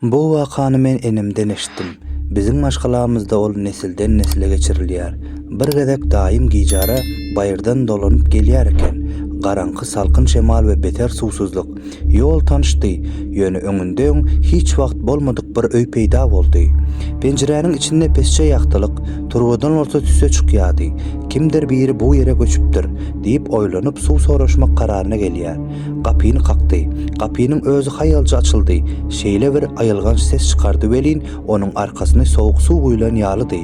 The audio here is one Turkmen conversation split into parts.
Bu wakany men enemden eşitdim. Biziň maşgalamyzda ol nesilden-nesle geçirilýär. Bir gezek daýym gijara baýyrdan dolanyp gelýär eken. Garaňky salkyn şemal we beter suwsuzlyk. Ýol tanyşdy, ýöne öňünde öň hiç wagt bolmadyk bir öý peýda boldy. Penjiräniň içinde pesje ýagtylyk, turbadan bolsa tüsse çykýardy. Kimdir biri bu ýere göçüpdir, diýip oýlanyp suw soraşmak kararyna gelýär. Gapyny kakdy. Gapynyň özi haýalja açyldy. Şeýle bir aýylganç ses çykardy welin, onuň arkasyny sowuk suw guýlan ýalydy.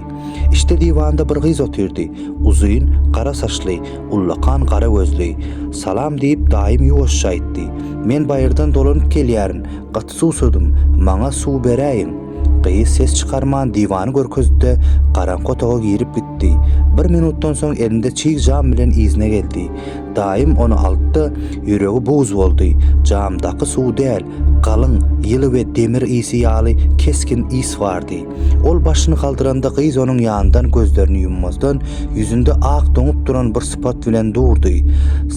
Içde diwanda bir gyz otyrdy. Uzyn, gara saçly, ullakan gara gözli. Salam diýip, daýym ýuwaşja aýtdy. Men baýyrdan dolanyp gelýärin. Suwsadym, maňa suw beräýiň! Gyz ses çykarman diwany görkezdi-de, garaňky otaga girip gitdi. Bir minutdan soň elinde çig jam bilen yzyna geldi. Daýym ony aldy-da, ýüregi buz boldy. Jamdaky suw däl, galyň, ýyly we demir ysy ýaly kesgin ys bardy. Ol başyny galdyranda gyz onuň ýanyndan gözlerini ýummazdan, ýüzünde ak doňup duran bir sypat bilen durdy.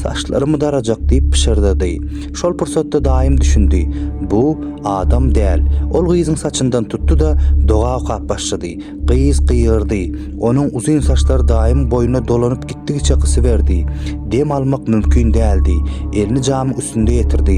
Saçlarymy darajak, diýip pyşyrdady. Şol pursatda daýym düşündi, Bu, adam däl. Ol gyzyň saçyndan tutdy-da, doga okap başlady. Gyz gygyrdy. Onuň uzyn saçlary daýymyň boýnuna dolanyp gitdigiçe gysyberdi. Dem almak mümkin däldi. Elini jamyň üstünde ýetirdi.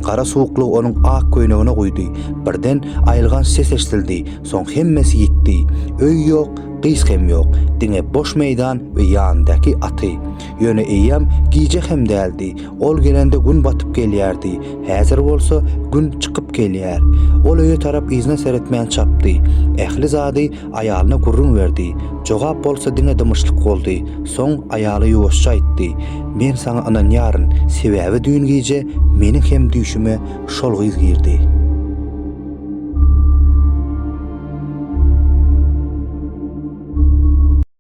Gara suwuklygy onuň ak köýnegine guýdy. Birden aýylganç ses eşdildi. Soň hemmesi ýitdi. Öý ýok, gyz hem ýok. Diňe boş meýdan we ýanyndaky aty. Ýöne eýýäm gije hem däldi. Ol gelende gün batyp gelýärdi. Häzir bolsa gün çykyp gelýär. Ol öýe tarap yzyna seretmän çapdy. Ähli zady aýalyna gürrüň berdi. Jogap bolsa diňe dymyşlyk boldy. Soň aýaly ýuwaşja aýtdy. Men saňa ynanýaryn, sebäbi düýn gije meniň hem düýşüme şol gyz girdi.